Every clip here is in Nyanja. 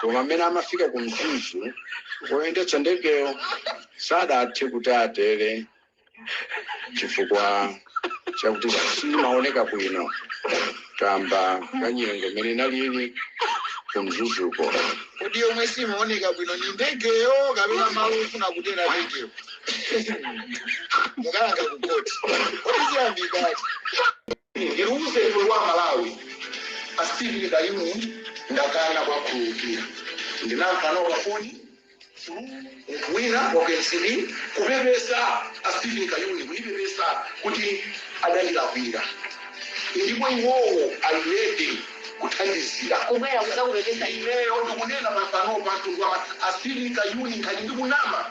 koma amene amafika ku mzuzu oyendetsa ndegeyo sadathe kuti atere chifukwa chakuti simaoneka bwino kamba ka nyengo imene inalili ku mzuzuko kodi yomwe simaoneka bwino ndi ndegeyo kapena malo ofuna kutera ndegeyo mukalanda ku court kodi ziyambikati ndiluze iwe wa malawi a steve kayuni ndakana kwakhululukira ndinamva pafoni munthu wina wa ku mcp kupepesa a steve kayuni akupepesa kuti adandilakwira ndipo iwowo ali ready kuti angathe kubwera kudzakupepesa iweyo ndikunena mafano pantu kwa a steve kayuni nkhani ndikunama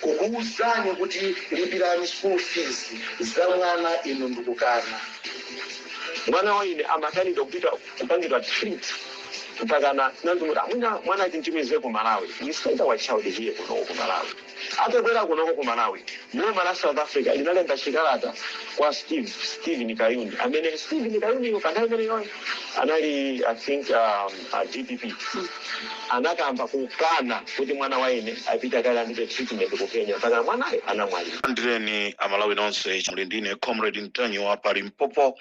kukuuzani kuti lipirani school fees za mwana inu n'kukana. Mwana wanga ine amakanidwa kupita kupangidwa treat mpakana tinaganiza kuti mwina mwana timtumize ku Malawi. We sent our child here kunoko ku Malawi. Atabwera kunoko ku Malawi, boma la South Africa linalemba chikalata kwa Steve, Steven Kayuni amene Steven Kayuniyo pa nthawi imeneyoyo anali I think um, A dpp anakamba kukana kuti mwana wanga ine apite akalandile treatment ku Kenya mpakana mwanayo anamwalira. Landireni amalawi nonse, muli ndine comrade ntanyiwa pa limpopo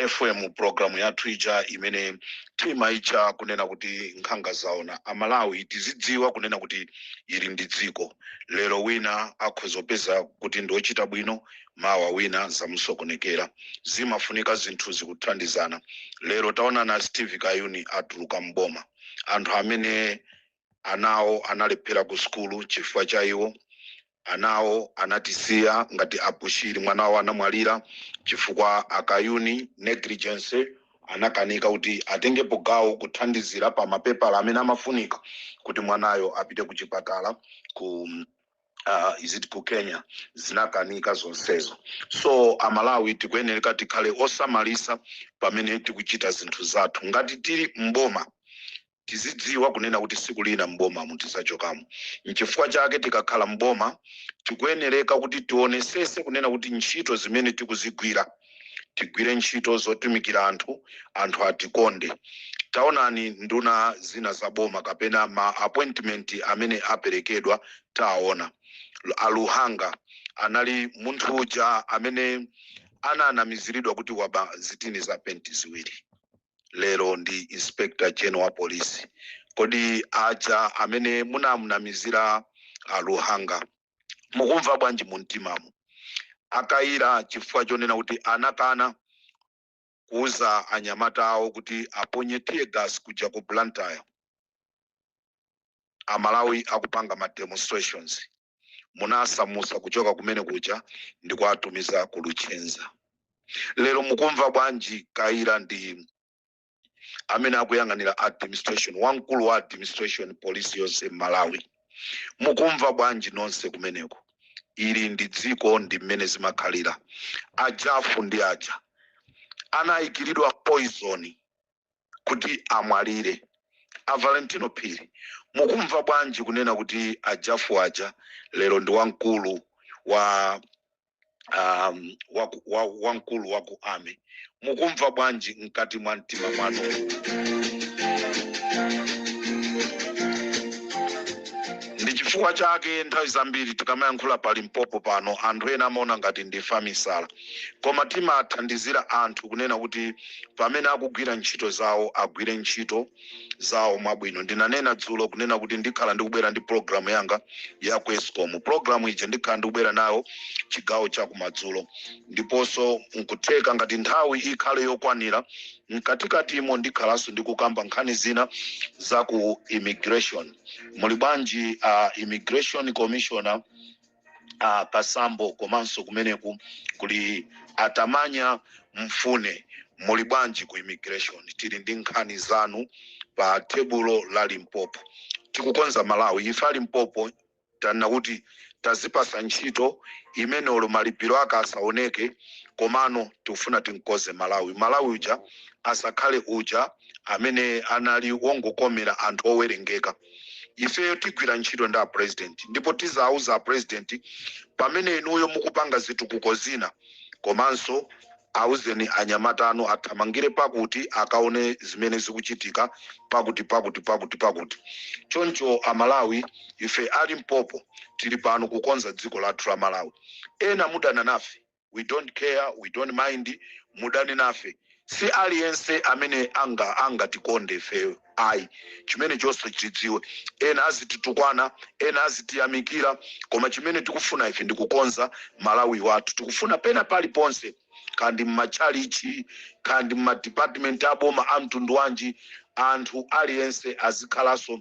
fm programu yathu ija imene timaitcha kunena kuti nkhanga zaona amalawi tizidziwa kunena kuti ili ndi dziko lero wina akhoza kupeza kuti ndiochita bwino mawa wina zamusokonekera. Zimafunika zinthuzi kuthandizana. Lero taonani a Steve Kayuni atuluka m'boma. Anthu amene ana awo analephera ku sukulu chifukwa cha iwo, ana awo anatisiya ngati a Bushiri mwana wawo anamwalira chifukwa a Kayuni, negligence, anakanika kuti atengepo gawo kuthandizira pa mapepala amene amafunika kuti mwanayo apite kuchipatala ku. uh, is it ku kenya zinakanika zonsezo so amalawi tikuyenereka tikhale osamalisa pamene tikuchita zinthu zathu ngati tili mboma tizidziwa kunena kuti siku lina mboma mutizachokamo nchifukwa chake tikakhala mboma tikuyenereka kuti tionesese kunena kuti ntchito zimene tikuzigwira tigwire ntchito zotumikira anthu, anthu atikonde. Taonani nduna zina za boma kapena ma appointment amene aperekedwa taona. A Luhanga anali munthu uja amene ananamiziridwa kuti waba zitini za penti ziwiri, lero ndi inspector general wa polisi. Kodi aja amene munamunamizira a Luhanga mukumva bwanji mu mtimamu akayira chifukwa chonena kuti anakana kuuza anyamata awo kuti aponye tear gas kuja ku blantyre amalawi akupanga ma demonstrations munawasamutsa kuchoka kumene kuja ndi kuwatumiza ku luchenza lero mukumva bwanji kayira ndi amene akuyang'anira administration wamkulu wa administration polisi yonse m'malawi mukumva bwanji nonse kumeneko ili ndi dziko ndi mmene zimakhalira ajafu ndi aja anayikiridwa poison kuti amwalire a valentino phiri mukumva bwanji kunena kuti ajafu aja lero ndi wamkulu wa um, waku- wa- wamkulu wa ku army mukumva bwanji mkati mwa mtima mwanu ndi chifukwa chake nthawi zambiri tikamayankhula pa limpopo pano anthu ena amaona ngati ndife amisala koma timathandizira anthu kunena kuti pamene akugwira ntchito zawo agwire ntchito zawo mwabwino. Ndinanena dzulo kunena kuti ndikhala ndikubwera ndi pulogalamu yanga ya ku escom. Pulogalamu ija ndikhala ndikubwera nayo chigawo cha kumadzulo, ndiponso nkutheka ngati nthawi ikhale yokwanira mkatikatimo ndikhalanso ndikukamba nkhani zina za ku immigration. Muli bwanji a immigration commissioner uh, kasambo komanso kumeneku kuli atamanya mfune muli bwanji ku immigration tili ndi nkhani zanu pa tebulo la limpopo tikukonza malawi ife a limpopo tanena kuti tazipasa ntchito imene olo malipiro ake asaoneke komano tikufuna tinkonze malawi malawi uja asakhale uja amene anali wongokomera anthu owerengeka ifeyo tigwira ntchito ndi a president ndipo tizauza a president pamene inuyo mukupanga zitukuko zina komanso auzeni anyamata anu athamangire pakuti akaone zimene zikuchitika pakuti pakuti pakuti pakuti choncho amalawi ife a limpopo tili pano kukonza dziko lathu la malawi ena mudana nafe we don't care, we don't mind, mudane nafe si aliyense amene angatikonde ifeyo ayi chimene nonse mudziwe ena azititukwana ena azitiyamikira koma chimene tikufuna ife ndikukonza malawi wathu tikufuna pena paliponse kaya ndi mmatchalichi kaya ndi mmadepartment aboma a mtundu wanji anthu aliyense azikhalanso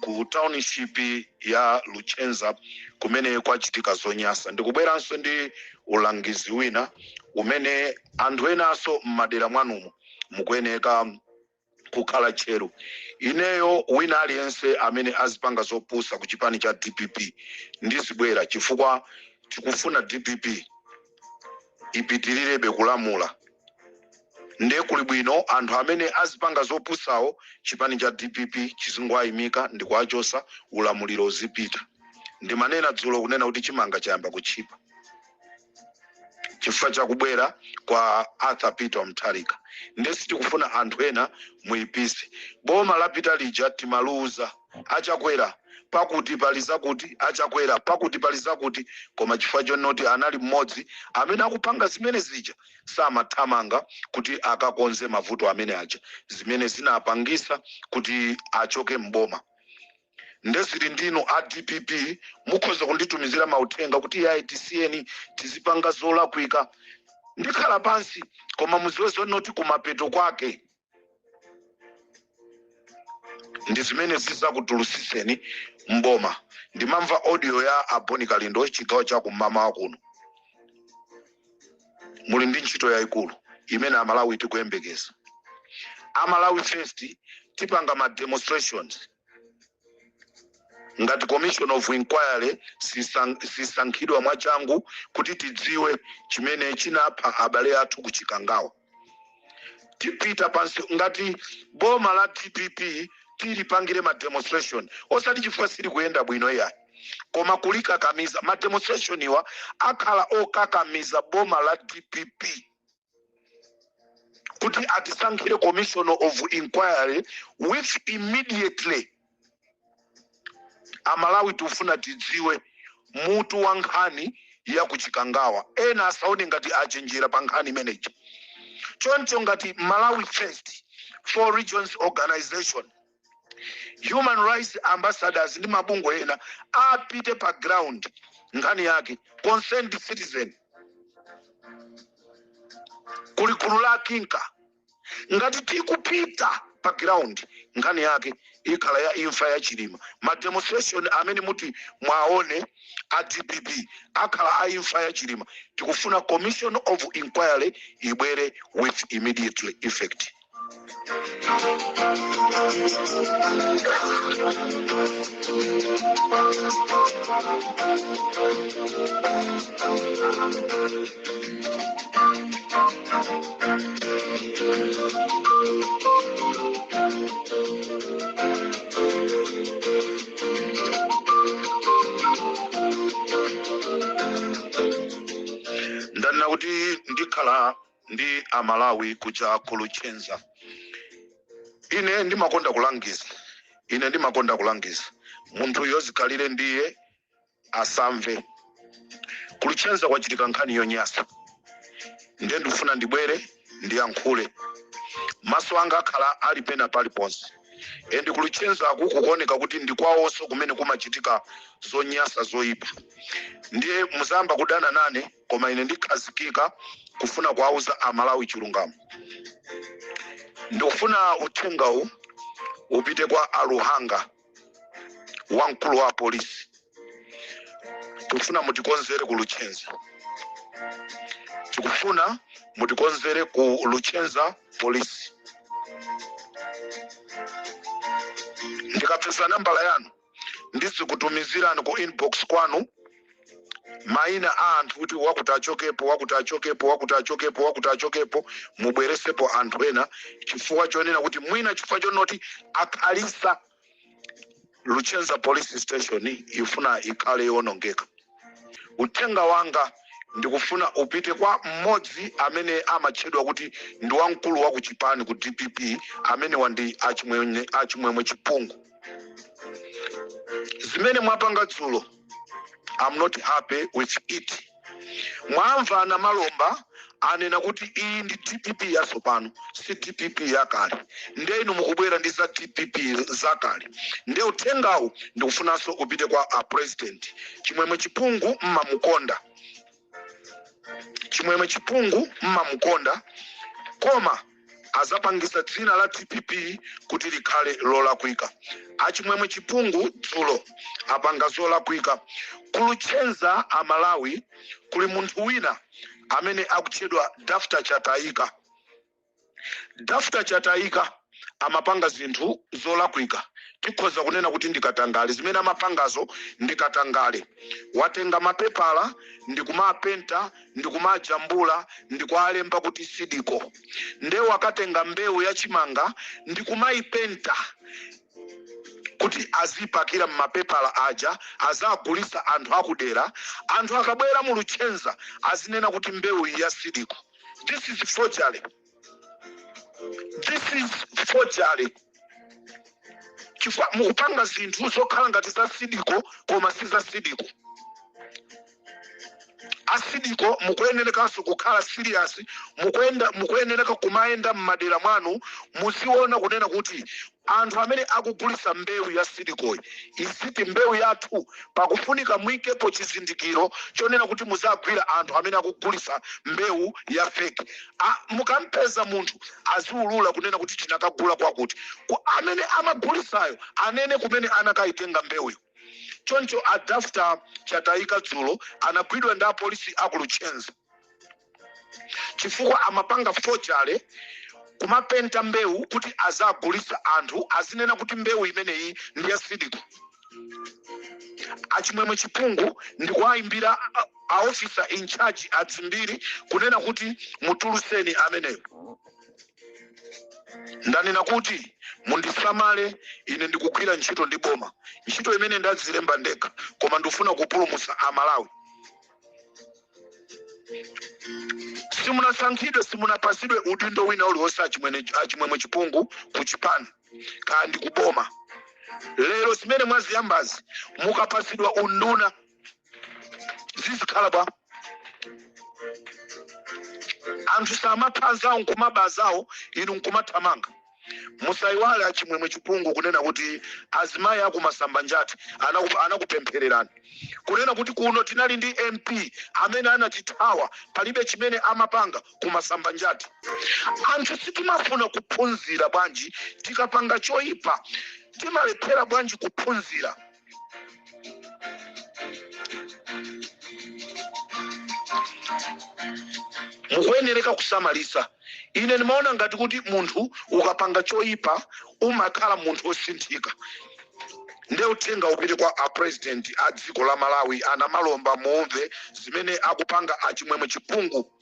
ku township ya luchenza kumene kwachitika zonyasa ndikubweranso ndi ulangizi wina umene anthu enaso m'madera mwanumo mukuyeneka kukhala tcheru ineyo wina aliyense amene azipanga zopusa ku chipani cha dpp ndizibwera chifukwa tikufuna dpp ipitilirebe kulamula nde kuli bwino anthu amene azipanga zopusawo chipani cha dpp chizingowayimika ndikuwachosa ulamuliro uzipita ndimanena dzulo kunena kuti chimanga chayamba kutchipa chifukwa chakubwera kwa arthur peter mutharika nde sitikufuna anthu ena muipise boma lapita lija timawauza a chakwera pakuti pali zakuti a chakwera pakuti pali zakuti koma chifukwa chonoti anali mmodzi amene akupanga zimene zija samathamanga kuti akakonze mavuto amene aja zimene zinapangisa kuti achoke m'boma nde zili ndi inu a dpp mukhoza kunditumizira mauthenga kuti yayi tisiyeni tizipanga zolakwika ndikhala pansi koma muziwe zonoti kumapeto kwake ndi zimene zizakutulusiseni mboma ndimamva audio ya a bon kalindo chigawo cha kum'mawa kuno muli ndi ntchito yayikulu imene amalawi tikuyembekeza a malawi first tipanga ma demonstrations ngati commission of inquiry sisankhidwa mwachangu kuti tidziwe chimene chinapha abale athu kuchikangawa tipita pansi ngati boma la dpp tilipangire ma demonstration osati chifukwa sili kuyenda bwino iyayi koma kulikakamiza ma demonstration-wa akhala okakamiza boma la dpp kuti atisankhire commission of inquiry with immediately amalawi tikufuna tidziwe mutu wa nkhani ya kuchikangawa ena asaone ngati achenjera pa nkhani imeneyi choncho ngati malawi first four regions organization human rights ambassadors ndi mabungwe ena apite pa ground nkhani yake concerned citizen kuli gulu la kinka Ngati tikupita pa ground nkhani yake ikhala ya imfa ya Chilima. Ma demonstration amene muti muwaone a dpp akhala a imfa ya Chilima. Tikufuna commission of inquiry ibwere with immediately effect. ndanena kuti ndikhala ndi amalawi kuja ku Luchenza ine ndimakonda kulangiza ine ndimakonda kulangiza munthu yozikhalire ndiye asamve. Ku Luchenza kwachitika nkhani yonyasa nde ndifuna ndibwere ndiyankhule. Maso anga akhala ali pena paliponse and ku Luchenzaku kukuoneka kuti ndi kwawonso kumene kumachitika zonyasa zoyipa. Ndiye muzayamba kudana nane koma ine ndikhazikika kufuna kuwauza Amalawi chilungamo. Ndikufuna uthengawu upite kwa Aluhanga. wamkulu wa polisi tikufuna mutikonzere ku luchenza tikufuna mutikonzere ku luchenza polisi ndikapeza nambala yanu ndizikutumizirani ku inbox kwanu mayina a anthu kuti wakuti achokepo wakuti achokepo wakuti achokepo wakuti achokepo mubweresepo anthu ena chifukwa chonena kuti mwina chifukwa chonoti akhalisa luchenza police station ifuna ikhale yowonongeka uthenga wanga ndikufuna upite kwa mmodzi amene amatchedwa kuti ndi wamkulu wa kuchipani ku dpp amene wandi achimwemwe achimwemwe chipungu zimene mwapanga dzulo I'm not happy with it mwamva Namalomba anena kuti iyi ndi dpp yatsopano si dpp yakale nde inu mukubwera ndi za dpp zakale nde uthengawu ndikufunanso upite kwa a president chimwemwe chipungu mmamukonda chimwemwe chipungu mmamukonda koma azapangisa dzina la dpp kuti likhale lolakwika achimwemwe chipungu dzulo apanga zolakwika kuluchenza amalawi kuli munthu wina amene akutchedwa dafta chataika Dafta Chataika amapanga zinthu zolakwika tikhoza kunena kuti ndi katangale zimene amapangazo ndi katangale watenga mapepala ndikumapenta ndikumajambula ndikualemba kuti Seed Co nde wakatenga mbewu ya chimanga ndikumaipenta kuti azipakira mmapepala aja azagulisa anthu akudera anthu akabwera mu Luchenza azinena kuti mbewu iyi ya Seed Co This is forgery. This is forgery. Chifukwa mukupanga zinthu zokhala ngati za sidiko koma si za sidiko. asidiko mukuyenerekanso kukhala serious mukuyenereka kumayenda m'madera mwanu muziona kunena kuti Anthu amene akugulisa mbewu ya sidikoyi is it mbewu yathu pakufunika muikepo chizindikiro chonena kuti muzagwira anthu amene akugulisa mbewu ya fake mukampeza munthu aziulula kunena kuti tinakagula kwakuti amene amagulisayo anene kumene anakaitenga mbewuyo choncho a Dafter Chataika dzulo anagwidwa ndi apolisi aku Luchenza. chifukwa amapanga forgery kumapenta mbewu kuti azagulisa anthu azinena kuti mbewu imeneyi ndi ya sidiko achimwemwe chipungu ndikuwayimbira a officer in charge adzimbiri kunena kuti mutuluseni ameneyo ndanena kuti mundisamale ine ndikugwira ntchito ndi boma ntchito imene ndadzilemba ndekha koma ndifuna kupulumutsa amalawi simunasankhidwe simunapasidwe udindo wina uliwonse achimwemwe chipungu ku chipani kaya ndi kuboma lero zimene mwaziyambazi mukapasidwa unduna zizikhala bwa anthu samapha anzawo nkumaba zawo inu nkumathamanga musaiwale achimwemwe chipungu kunena kuti azimayi aku masambanjati anakupemphererani kunena kuti kuno tinali ndi mp amene anatithawa palibe chimene amapanga ku masambanjati anthu sitimafuna kuphunzira bwanji tikapanga choyipa timalephera bwanji kuphunzira mukuyenereka kusamalisa ine ndimaona ngati kuti munthu ukapanga choyipa umakhala munthu wosinthika nde uthenga upite kwa apresident a dziko la malawi a namalomba muumve zimene akupanga achimwemwe chipungu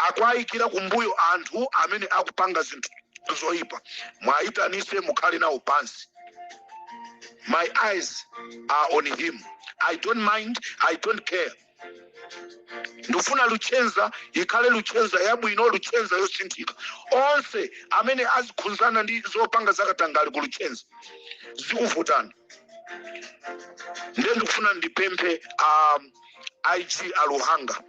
akuayikira kumbuyo anthu amene akupanga zinthu zoipa muayitanise mukhale nawo pansi my eyes are on him i don't mind i don't care ndifuna luchenza ikhale luchenza yabwino luchenza yosinthika onse amene azikhunzana ndi zopanga zakatangali ku luchenza zikuvutani ndiye ndikufuna ndipemphe um, IG a luhanga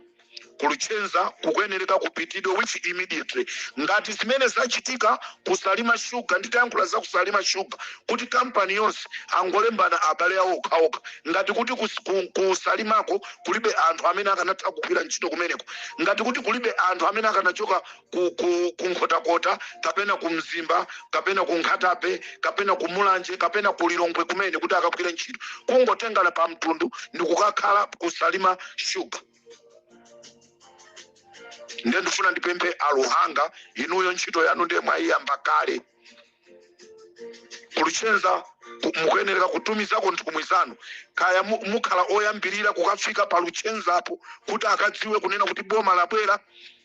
Ku Luchenza kukuyenereka kupitidwe with immediately ngati zimene zachitika ku Salima Sugar nditayankhula za ku Salima Sugar kuti company yonse angolembana abale awo okhaokha ngati kuti ku, ku, ku Salimako kulibe anthu amene akanatha kugwira ntchito kumeneko ngati kuti kulibe anthu amene akanachoka ku, ku, ku nkhotakota kapena ku mzimba kapena ku Nkhata Bay kapena ku mulanje kapena ku lilongwe kumene kuti akagwire ntchito kungotengana pa mtundu ndi kukakhala ku Salima Sugar nde ndifuna ndipemphe a Luhanga inuyo ntchito yanu ndiye mwayiyamba kale ku luchenza ku- mukuyenereka kutumizako nthumwi zanu kaya mu- mukhala oyambirira kukafika pa luchenzapo kuti akadziwe kunena kuti boma labwera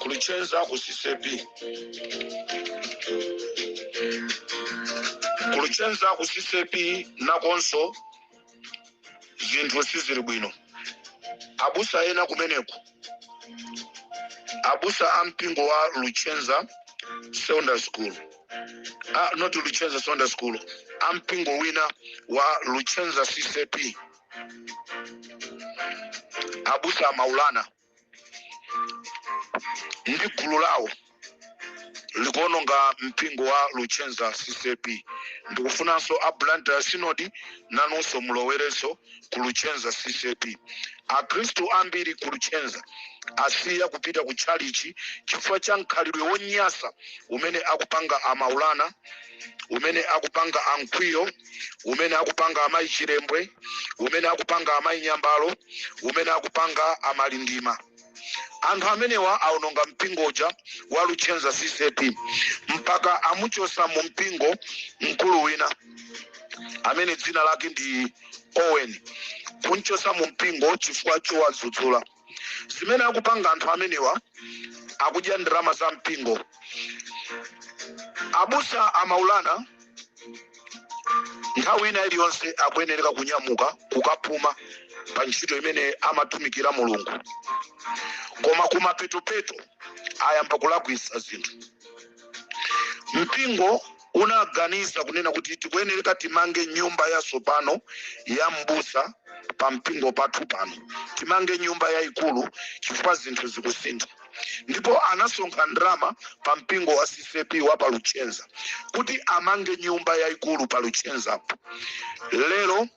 ku luchenza ku CCAP ku luchenza ku CCAP nakonso zinthu sizili bwino abusa ena kumeneko abusa a mpingo wa luchenza secondary school ah, not luchenza secondary school a mpingo wina wa luchenza CCAP abusa a Maulana ndi gulu lawo likuononga mpingo wa luchenza CCAP ndikufunanso a blantyre synod nanunso mulowerenso ku luchenza CCAP akhristu ambiri ku luchenza asiya kupita ku tchalichi chifukwa cha mkhalidwe wonyasa umene akupanga a Maulana umene akupanga a Mkwiyo umene akupanga amayi chilembwe umene akupanga amayi nyambalo umene akupanga a Malindima anthu amenewa aononga mpingo uja wa luchenza CCAP mpaka amuchosa mu mpingo mkulu wina amene dzina lake ndi owen kumchosa mu mpingo chifukwa chowadzudzula zimene akupanga anthu amenewa akudya ndalama za mpingo abusa a Maulana nthawi ina iliyonse akuyenereka kunyamuka kukapuma pa ntchito imene amatumikira mulungu koma kumapetopeto ayamba kulakwisa zinthu mpingo unaganiza kunena kuti tikuyenereka timange nyumba yatsopano ya m'busa pa mpingo pathu pano timange nyumba yayikulu chifukwa zinthu zikusintha ndipo anasonkha ndalama pa mpingo wa CCAP wa pa luchenza kuti amange nyumba yayikulu pa luchenzapo lero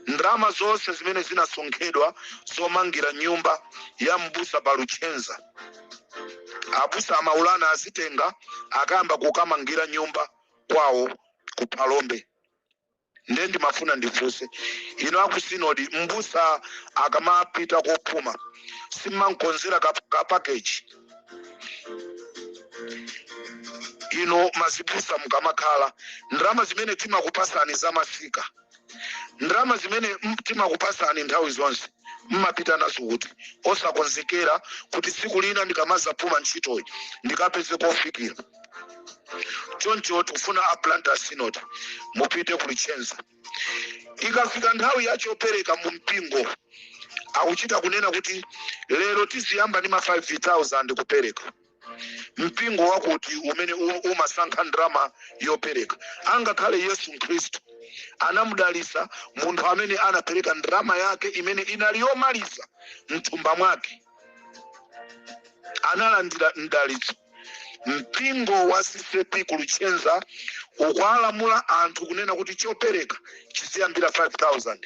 ndalama zonse zimene zinasonkhedwa zomangira nyumba ya m'busa pa luchenza abusa a Maulana azitenga akayamba kukamangira nyumba kwawo ku phalombe nde ndimafuna ndifunse inu aku sinodi mbusa akamapita kophuma simmankonzera ka, ka package inu mazibusa mukamakhala ndalama zimene timakupasani zamasika ndalama zimene m- timakupasani nthawi zonse mmapita nazo kuti osakonzekera kuti tsiku lina ndikamazapuma ntchitoyi ndikapeze kofikira choncho tikufuna a Blantyre synod mupite ku Luchenza ikafika nthawi ya chopereka mu mpingo akuchita kunena kuti lero tiziyamba ndi ma 5000 kupereka mpingo wakuti umene u- umasankha ndalama yopereka angakhale yesu khristu anamudalisa munthu amene anapereka ndalama yake imene inali yomaliza mthumba mwake analandira mdalitso mpingo wa CCAP ku Luchenza ukualamula anthu kunena kuti chopereka chiziyambira 5000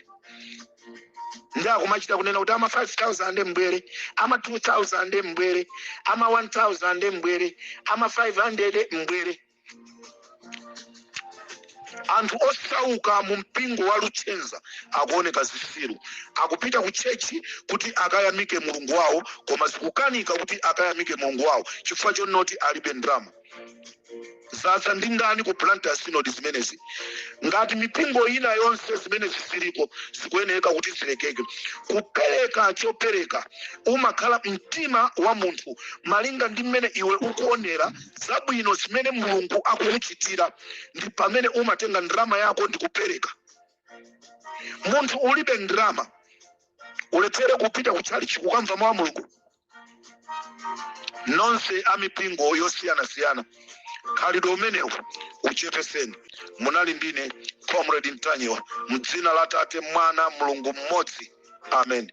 ndi akumachita kunena kuti ama 5000 mbwere ama 2000 mbwere ama 1000 mbwere ama 500 mbwere anthu osauka mu mpingo wa luchenza akuoneka zisiru akupita ku tchetchi kuti akayamike mulungu wawo koma zikukanika kuti akayamike mulungu wawo chifukwa chonoti alibe ndalama zatha ndi ndani ku Blantyre synod zimenezi ngati mipingo ina yonse zimenezi ziliko zikuyeneka kuti zilekeke kupereka chopereka umakhala mtima wa munthu malinga ndi mmene iwe ukuonera zabwino zimene mulungu akukuchitira ndi pamene umatenga ndalama yako ndi kupereka munthu ulibe ndalama ulephere kupita ku tchalichi kukamva mawu a mulungu nonse a mipingo yosiyanasiyana khalidwe limeneli uchepeseni munali ndine comrade mtanyiwa mdzina la tate mwana mulungu mmodzi amen